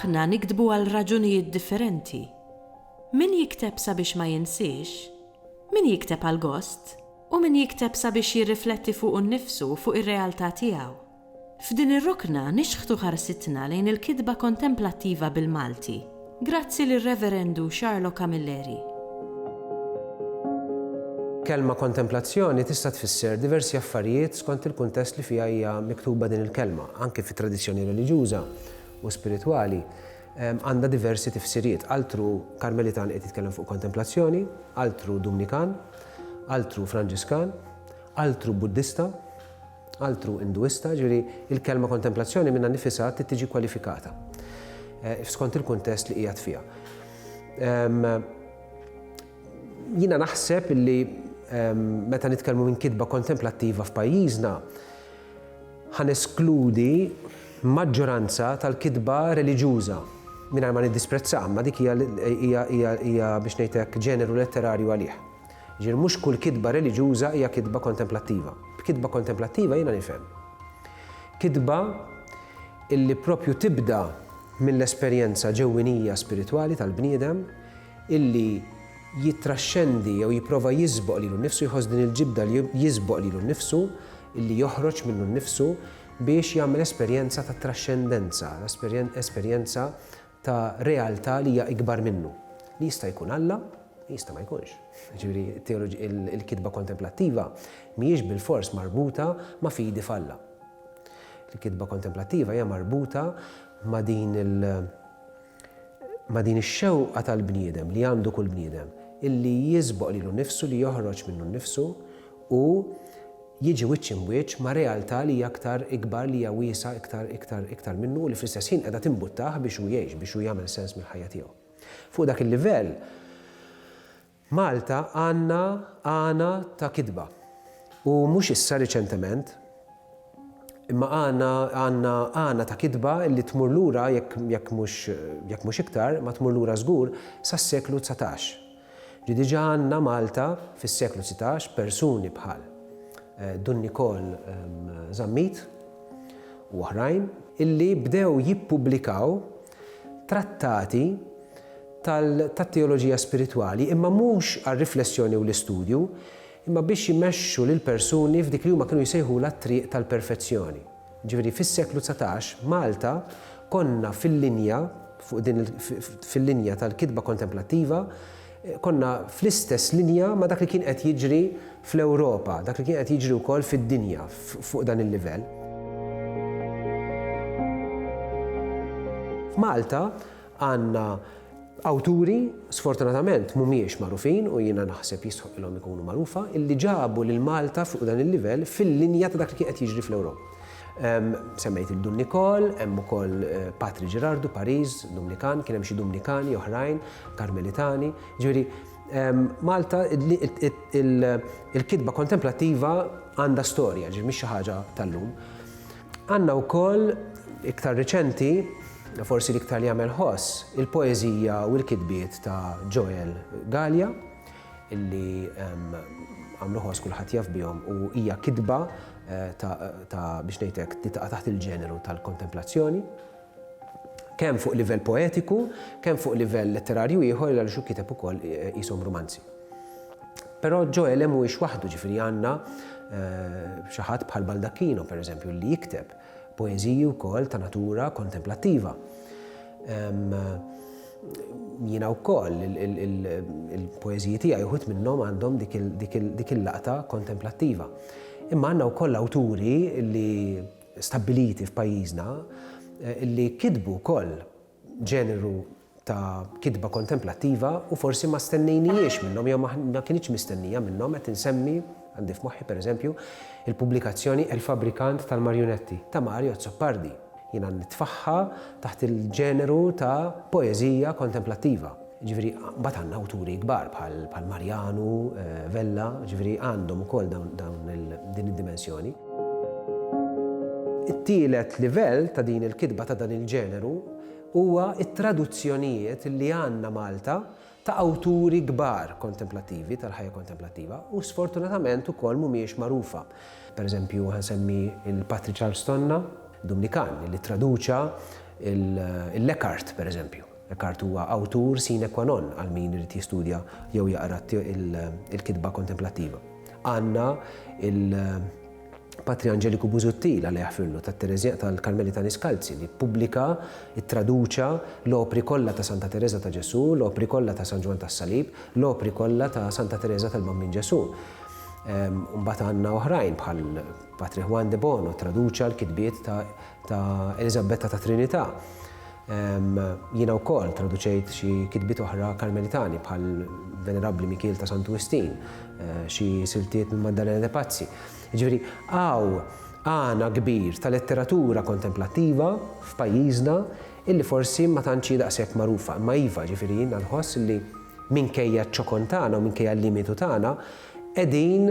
Aħna niktbu għal raġunijiet differenti. Min jikteb sabiex ma jinsiex, min jikteb għall-gost, u min jikteb sabiex jirrifletti fuqu nnifsu u fuq ir-realtà tiegħu. F'din ir-rokna nixħtu ħarsitna lejn il-kitba kontemplattiva bil-Malti, grazzi lir-Reverendu Charlo Camilleri. Kelma kontemplazzjoni tista' tfisser diversi affarijiet skont il-kuntest li fiha hija miktuba din il-kelma, anki fit-tradizzjoni reliġjuża u spiritwali għandha diversi tifsiriet, altru Karmelitan qiegħed jitkellem fuq kontemplazzjoni, altru Dumnikan, altru Franġiskan, altru Buddista, altru Induista, jiġifieri l-kelma kontemplazzjoni minnha nnifisha trid tiġi kwalifikata skont il-kuntest li qiegħed fiha. Jiena naħseb li meta nitkellmu minn kitba kontemplattiva f'pajjiżna, ħaneskludi maġġoranza tal-kitba reliġjuża mingħajr ma niddisprezza, ma dik hija biex ngħidlek ġeneru letterarju għalih. Jiġifieri mhux kull kitba reliġjuża hija kitba kontemplattiva. B'kitba kontemplattiva jiena nifhem kitba illi proprju tibda mill-esperjenza ġewwinija spiritwali tal-bniedem illi jittraxxendi jew jipprova jiżboq lilu nnifsu, jħoss din il-ġibda li jiżboq lilu nnifsu, illi joħroġ minnu nnifsu biex jagħmel esperjenza ta' traxxendenza, esperjenza ta' realtà li hija ikbar minnu, li jista' jkun Alla, jista' ma jkunx. Jiġifieri, il-kitba kontemplattiva mhijiex bilfors marbuta ma' fidi f'Alla. Il-kitba kontemplattiva hija marbuta ma' din il- ma' din ix-xewqa tal-bniedem li għandu kull bniedem, illi jiżboq lilu nnifsu, li joħroġ minnu nnifsu u jiġi wiċċ imwiċċ ma' realtà li hija iktar ikbar, li hija wiesgħa iktar, iktar, iktar minnu u li fl-istess ħin qiegħda timbuttah biex hu jgħix, biex hu jagħmel sens mill-ħajja tiegħu. Fuq dak il-livell, Malta għandna għana ta' kitba. U mhux issa riċentement, imma għandna għandna għana ta' kitba li tmur lura jekk mhux iktar, ma tmur lura żgur sas-seklu dsatax. Li diġà għandna Malta fis-seklu sitax persuni bħal Dun Nikol Zammit u oħrajn illi bdew jippubblikaw trattati tat-teoloġija spiritwali imma mhux għar-riflessjoni u l-istudju imma biex jmexxu lill-persuni f'dik li huma kienu jsejħulha t-triq tal-perfezzjoni. Ġifieri fis-seklu dsatax, Malta, konna fil-linja, fuq din il, fil-linja tal-kitba kontemplattiva, konna fl-istess linja ma' dak li kien qed jiġri fl-Ewropa, dak li kien qed jiġri wkoll fid-dinja fuq dan il-livell. F'Malta, Għandna awturi, sfortunatament mhumiex magħrufin u jiena naħseb jistħoqqilhom ikunu magħrufa, illi ġabu lil Malta fuq dan il-livell fil-linja ta' dak li kien qed jiġri fl-Ewropa. Semmejt lil Dun Nicole, hemm ukoll Patri Ġerardu, Pariż, Dumnikan, kien hemm xi Dumnikani oħrajn, Karmelitani. Ġifieri, Malta, il-kitba kontemplattiva għandha storja, ġifieri mhix xi ħaġa tal-lum. Għandna wkoll, iktar riċenti, forsi l-iktar li jagħmel ħoss, il-poeżija u l-kitbiet ta' Joel Gallia, illi għamlu ħoss kulħadd jaf bihom u hija kitba eh, ta' biex ngħidlek li taqa' taħt il-ġeneru tal-kontemplazzjoni. kemm fuq livell poetiku, kemm fuq livell letterarju ieħor għaliex hu kiteb ukoll qishom rumanzi. Però Ġoele mhuwiex waħdu, ġifieri għandna xi ħadd bħal Baldacchino, pereżempju, li jikteb poeżiji wkoll ta' natura kontemplattiva. Jiena wkoll il-poeżiji tiegħi uħud minnhom għandhom dik il-laqta kontemplattiva. Imma għandna wkoll awturi li stabbiliti f'pajjiżna li kitbu wkoll ġeneru ta' kitba kontemplattiva u forsi ma stennejnihiex minnhom jew ma kinitx mistennija minnhom, qed insemmi, għandi f'moħħi pereżempju, il-pubblikazzjoni Il-Fabbrikant tal-Marjunetti ta' Mario Azzopardi. Jiena nitfagħha taħt il-ġeneru ta' poeżija kontemplattiva. Jiġifieri mbagħad għandna awturi kbar bħal Marjanu, Vella, jiġifieri għandhom ukoll dawn din id-dimensjoni. It-tielet livell ta' din il-kitba ta' dan il-ġeneru huwa t-traduzzjonijiet li għandna Malta ta' awturi kbar kontemplattivi, tal-ħajja kontemplattiva, u sfortunatament ukoll mhumiex magħrufa. Per eżempju ħa nsemmi lil Patrick Charles Tonna, Dumnikan, li ttraduċa lil Eckhart, per eżempju. Eckhart huwa awtur sine qua non għal min irid jistudja jew jaqra l-kitba kontemplattiva. Għandna l-Patri Angelico Busuttil, Alla jaħfirlu, tat-Tereżjan tal-Karmelitani Skalzi li ppubblika, ittraduċa, l-opri kollha ta' Santa Tereża ta' Ġesù, l-opri kollha ta' San Ġwann tas-Salib, l-opri kollha ta' Santa Tereża tal-Bambin Ġesù. Imbagħad għandna oħrajn bħal Patri Juan de Bono, ttraduċa l-kitbiet ta' Eliżabetta tat-Trinità. Jiena wkoll traduċejt xi kitbiet oħra Karmelitani bħal Venerabbli Mikiel ta' Santu Wistin, xi siltiet minn Maddalena de Pazzi. Jiġifieri hawn għana kbir ta' letteratura kontemplattiva f'pajjiżna illi forsi ma tantx hi daqshekk magħrufa. Imma iva, jiġifieri jiena nħoss illi minkejja ċ-ċokon tagħna u minkejja l-limitu tagħna qegħdin